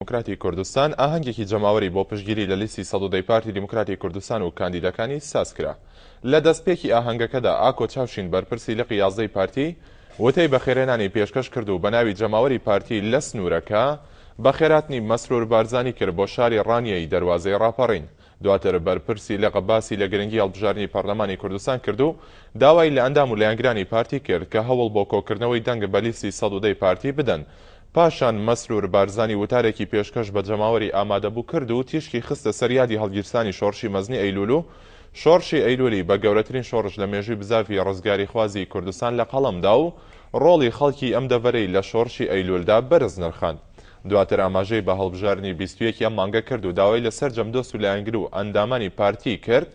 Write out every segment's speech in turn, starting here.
دیموکراتی کوردستان ئاهەنگێکی جەماوەری بۆ پشتگیری لە لیستی سەد و دە ی پارتی دیموکراتی کوردستان و کاندیدەکانی سازکرا. لە دەستپێکی ئاهەنگەکەدا ئاکۆ چاوشین بەرپرسی لقی یازدە ی پارتی وتەی بەخێرێنانی پێشکەش کرد و بەناوی جەماوەری پارتی لە سنوورەکە بەخێراتنی مەسرور بارزانی کرد بۆ شاری ڕانیەی دەروازەی ڕاپەڕین دواتر بەرپرسی لقە باسی لە گرنگی هەڵبژاردنی پەرلەمانی کوردستان کرد و داوای لە ئەندام و لایەنگرانی پارتی کرد کە هەوڵ بۆ کۆکردنەوەی دەنگ بە لیستی سەد و دە ی پارتی بدەن. پاشان مەسرور بارزانی وتارێکی پێشکەش بە جەماوەری ئامادەبوو کرد و تیشکی خستە سەر یادی هەڵگیرسانی شۆڕشی مەزنی ئەیلول و شۆڕشی ئەیلولی بە گەورەترین شۆڕش لە مێژووی بزاڤی ڕزگاریخوازی کوردستان لە قەڵەم دا و ڕۆڵی خەڵکی ئەم دەڤەرەی لە شۆڕشی ئەیلولدا بەرز نرخاند. دواتر ئاماژەی بە هەڵبژاردنی بیست و یەک ی ئەم مانگە کرد و داوای لە سەرجەم دۆست و لایەنگر و ئەندامانی پارتی کرد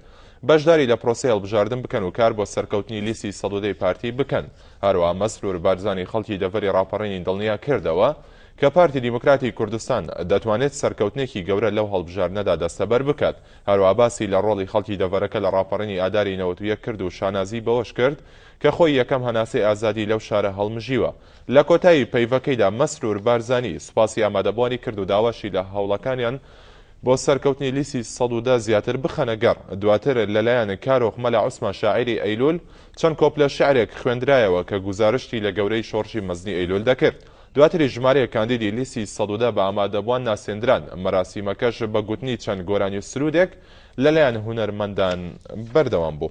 بەشداری لە پرۆسەی هەڵبژاردن بکەن و کار بۆ سەرکەوتنی لیستی سەد و دە ی پارتی بکەن. هەروەها مەسرور بارزانی خەڵکی دەڤەری ڕاپەڕینی دڵنیا کردەوە کە پارتی دیموکراتی کوردستان دەتوانێت سەرکەوتنێکی گەورە لەو هەڵبژاردنەدا دەستەبەر بکات. هەروەها باسی لە ڕۆڵی خەڵکی دەڤەرەکە لە ڕاپەڕینی ئاداری نەوەد و یەک کرد و شانازی بەوەش کرد کە خۆی یەکەم هەناسەی ئازادی لەو شارە هەڵمژیوە. لە کۆتایی پەیڤەکەیدا مەسرور بارزانی سوپاسی ئامادەبووانی کرد و داواشی لە هەوڵەکانیان بۆ سەرکەوتنی لیستی سەد و دە زیاتر بخەنە گەڕ. دواتر لەلایەن کارۆخ مەلا عوسمان شاعیری ئەیلول چەند کۆپلە شیعرێک خوێندرایەوە کە گوزارشتی لە گەورەیی شۆڕشی مەزنی ئەیلول دەکرد. دواتریش ژمارەیەک کاندیدی لیستی سەد و دە بە ئامادەبووان ناسێندران، مەراسیمەکەش بە گوتنی چەند گۆرانی و سروودێک لەلایەن هونەرمەندان بەردەوام بوو.